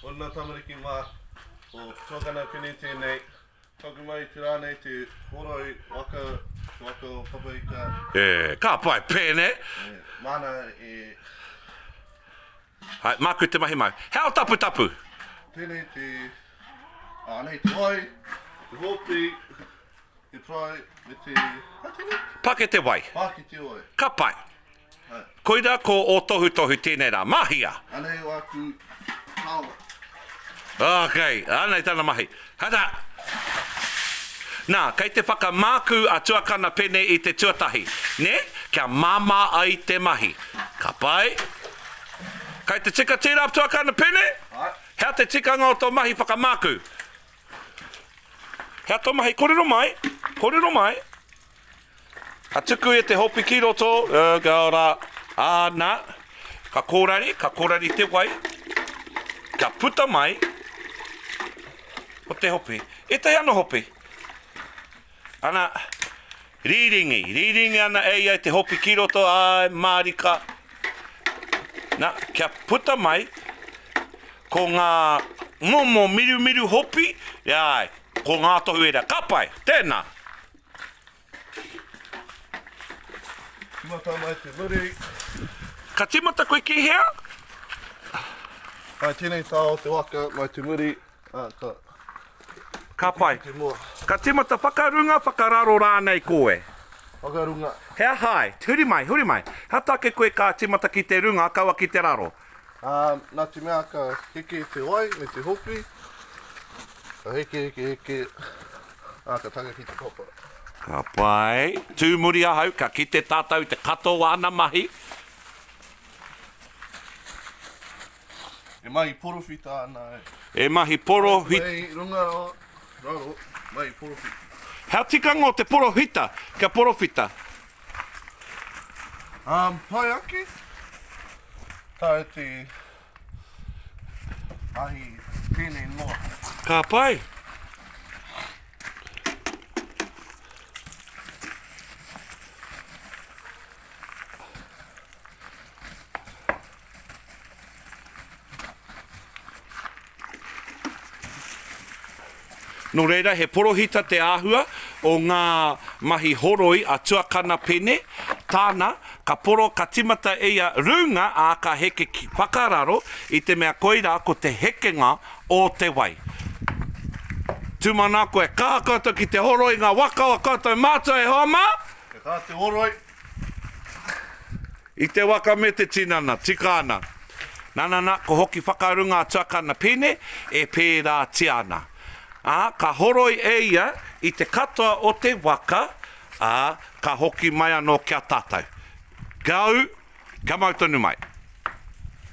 Ōna tamariki mā, ko Tōkana Pini tēnei, toku mai te rā nei te horoi waka, te waka o Papaika. E, ka pai pēnei! E, māna e... Hai, māku te mahi mai. He ao taputapu! Tēnei te... Ānei te wai, te hōpī. Te pai me te, hai tene? Pake te wai. Pake te wai. Ka pai. Hai. Koira ko o Tohutohu tēnei rā. Mahia! Anei aku taonga. Ok, anei tana mahi. Hata! Nā, kei te whakamākū a Tuakana Pene i te tuatahi, nē, kia māmā ai te mahi. Ka pai. Kei te tika tērā Tuakana Pene? Hai. Hea te tikanga o tō mahi whakamākū? Hea to mahi? Korero mai, korero mai. Ka tuku e te hopi ki roto, uh, ka ora, ana, ka korari, ka korari te wai, ka puta mai, o te hopi. E te ano hopi. Ana, rīringi, rīringi ana e ia te hopi ki roto, āe, mārika. Na, kia puta mai, ko ngā momo mirumiru hopi, e āe, ko ngā tohu ērā, ka pai, tēnā. Tīmata ana e te muri. Ka tīmata koe ki hea? Hai tēnei tā o te waka, mai te muri. Ka pai. Ka tīmata whakarunga, whakararo rānei koe? Whakarunga. He aha ai? Huri mai, huri mai. He aha tāke koe ka tīmata ki te runga, kaua ki te raro? Nā te mea ka heke te wai me te hoki, ka heke, heke, heke, ā, ka taka ki te papa. Ka pai. Tū muri ahau, ka kite tātou i te katoa ana mahi. E mahi porowhita ana e. E mahi porowhita. Mai i runga rawa, raro, mai i porowhita. Hea tikanga o te porowhita kia porowhita? Um, pai ake. Tae te ahi tēnei noa. Ka pai. Nō reira, he porohita te āhua o ngā mahi horoi a Tuakana Pene, tāna, ka poro, ka tīmata e ia rūnga, ā, ka heke ki whakararo, i te mea koirā ko te hekenga o te wai. Tūmana koe, ka aha koutou ki te horoi ngā waka o koutou mātua e hoa mā? He aha te horoi? I te waka me te tinana, tika ana. Nana, na, ko hoki whakaru nga tuakana pene e peratia ana. A, ka horoi e ia i te katoa o te waka, a, ka hoki mai ano kia tatau. Gau, kia mau tonu mai.